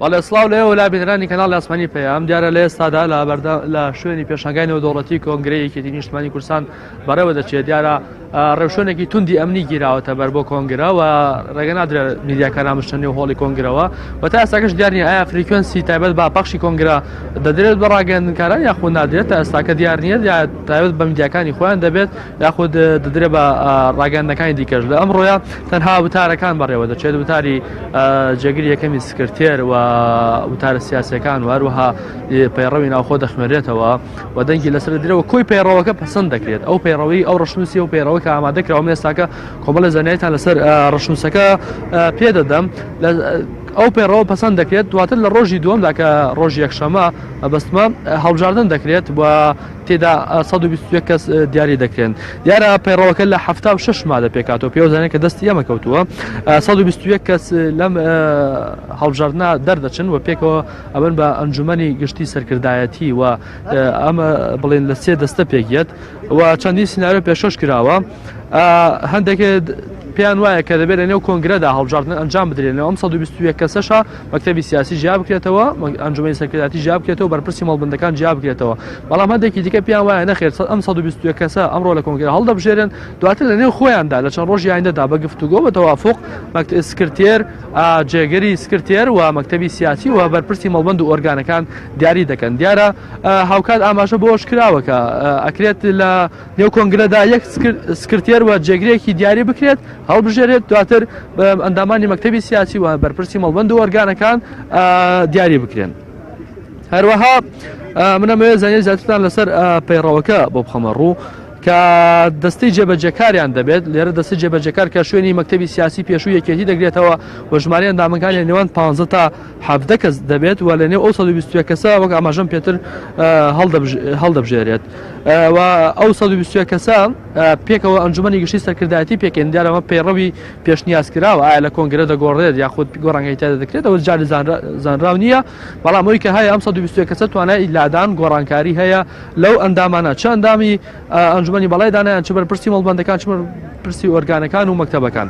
بەڵێ سڵاو لە ئێوە لا بینەرانی کەناڵی ئاسمانی پەیام دیارە لە ئێستادا لە بەردە لە شوێنی پێشنگای نێودەوڵەتی کۆنگرەیەکێتی نیشتمانی کورسان بەڕێوە دەچێت دیارە ڕێوشوێنێکی توندی ئەمنی گیراوەتە بەر بۆ کۆنگرەوە ڕێگە نادرێ میدیاکان ئامشتە نێو هۆڵی کۆنگرەوە و تا ئێستاکەش دیارنی ئایا فریکوێنسی تایبەت با پەخشی کۆنگرا دەدرێت بە ڕاگەندنکاران یاخود نادرێت تا ئێستاکە دیار نیە تایبەت بە میدیاکانی خۆیان دەبێت یاخود دەدرێت بە ڕاگەیاندنەکانی دیکەش. لە ئەمڕۆیە تەنها وتارەکان بەڕێوە دەچێت، وتاری جێگری یەکەمی سکرتێر و وتارە سیاسییەکان و هەروەها پەیڕەوی ناوخۆ دەخوێنرێتەوە و دەنگی لەسەر دەدرێەوە کۆی پەیڕەوەکە پەسەند دەکرێت ئەو پەیڕەوەی ئەو ڕشنووسی و پەیڕەوە کە ئامادەکراوە مێستاکە کۆمەڵە زانایتان لەسەر ڕشنووسەکە پێدەدەم لە ئەو پێڕەوە پەسەند دەکرێت دواتر لە ڕۆژی دووەمدا کە ڕۆژ یەکشەمە بەستمە هەڵبژاردن دەکرێت و تێدا سەد و بیست و یەک کەس دیاری دەکرێن دیارە پەیڕەوەکە لە حەفتا و شەش مادە پێکاتەوە پێوزانێت کە دەستی ئەمە کەوتووە سەد و بیست و یەک کەس لەم هەڵبژاردنە دەردەچن و پێکەوە ئەبن بە ئەنجومەنی گشتی سەرکردایەتی و ئەمە بڵێن لە سێ دەستە پێکیەت و چەندین سناارە پێشۆش کراوە هەندێک پێیان وایە کە دەبێت لە نێو کۆنگرەدا هەڵبژاردن ئەنجام بدرێنەوە ئەم 120 کەسەشە مەکتەبی سیاسی جیا بکرێتەوە ئەنجومی سەرکرداتی جیا بکرێتەوە بەرپرسی مەڵبندەکان جیا بکرێتەوە بەڵام هەندێکی دیکە پیان وایە نەخێر ئەم 120 کەسە ئەمڕۆ لە کۆنگرە هەڵدەبژێرن دواتر لە نێو خۆیاندا لە چەند ڕۆژی ئایندەدا بە گفتوگۆ بە تەوافق مەکتب سکرتێر جێگەری سکرتێر و مەکتەبی سیاسی و بەرپرسی مەڵبند و ئۆرگانەکان دیاری دەکەن دیارە هاوکات ئاماژە بۆش کراوە کە ئەکرێت لە نێو کۆنگرەدا یەک سکرتێر و جێگرێکی دیاری بکرێت هەڵبژێرێت دواتر ئەندامانی مەکتتەبی سیاسی و بەرپرسی مەڵبند و ئۆرگانەکان دیاری بکرێن هەروەها منەمەوێت زانانی زیاترتان لەسەر پەیڕەوەکە بۆ بخەمە ڕوو کە دەستی جێبەجەکاریان دەبێت لێرە دەستی جێبەجەکار کە شوێنی مەکتتەبی سیاسی پێشوو یەکێتی دەگرێتەوە و ژماری ئەندامەکانی نێوان پ تا حەڤدە کەس دەبێت و لە نێو ئەو سەد و بیست و یەک کەسە وەک ئاماژەم پێتر هەڵدەبژێرێت و ئەو سەد و بیست و یەک کەسە پێکەوە ئەنجومەنی گشتی سەرکردایەتی پێکەن دیارەوە پەیڕەوی پێشنیاز کراوە ئایا لە کۆنگرە دەگۆڕێت یاخود گۆڕانگەی تێدا دەکرێت ئەوە جاری زانراو نییە بەڵام ئەوی کە هەیە ئەم سەد و بیست و یەک کەسە توانای لادان گۆڕانکاری هەیە لەو ئەندامانە چەندامی ئەنجومەنی بەڵای دانایان چ بەرپرسی مەڵبندەکان چ پرسی ئۆرگانەکان و مەکتتەبەکان.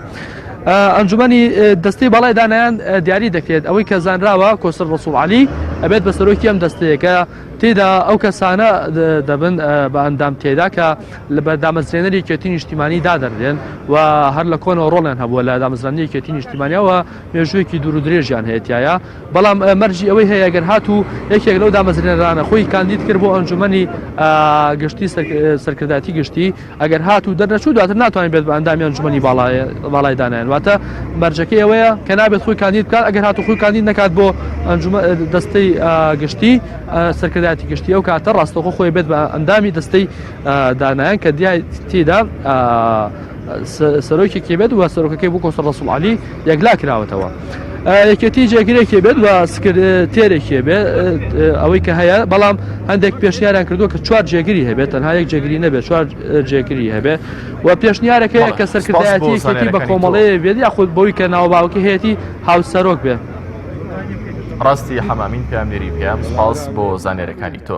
ئەنجومەنی دەستەی بەڵای دانایان دیاری دەکرێت ئەوەی کە زانراوە کۆسەر ڕسوڵ علی ئەبێت بە سەرۆکی ئەم دەستەیەکە تێدا ئەو کەسانە دەبن بە ئەندام تێدا کە لە بەدامەزرێنەری کێتی نیشتیمانی دادەنرێن و هەر لە کۆنەوە ڕۆڵیان هەبووە لە دامەزرانی کێتی نیشتیمانیەوە مێژوویەکی دوور و درێژیان هەیە تیایا، بەڵام مەرجی ئەوەی هەیە گەر هاتوو یەکێک لەو دامەزرێنەرانە خۆی کاندید کرد بۆ ئەنجوومەنی گشتی سەرکردایەتی گشتی، ئەگەر هاتوو دەرنەچوو دواتر ناتوانێت بێت بە ئەندامی ئەنجوومەنی باڵای دانایان، واتە مەرجەکەی ئەوەیە کە نابێت خۆی کاندید بکات، ئەگەر هاتوو خۆی کاندید نەکات بۆ دەستەی گشتی سەرکردایەتی گشتی ئەو کاتە ڕاستەوخۆ خۆی بێت بە ئەندامی دەستەی دانایان کە دیای تێدا سەرۆکێکی بێت و سەرۆکەکەی بوو کۆسە ڕسوڵ علی یەکلا کراوەتەوە یەکێتی جێگرێکی بێت و سکرتێرێکی بێ ئەوەی کە هەیە بەڵام هەندێک پێشنیاران کردو کە چوار جێگری هەبێت تەنها یەک جێگری نەبێت چوار جێگری هەبێ و پێشنیارەکەی کە سەرکردایەتی بە کۆمەڵەیە بێت یاخود بۆی کە ناوباوکی هەیەی هاوسەرۆک بێ ڕاستی حەمامین پێم نێری پێم سپاس بۆ زانێرەکانی تۆ.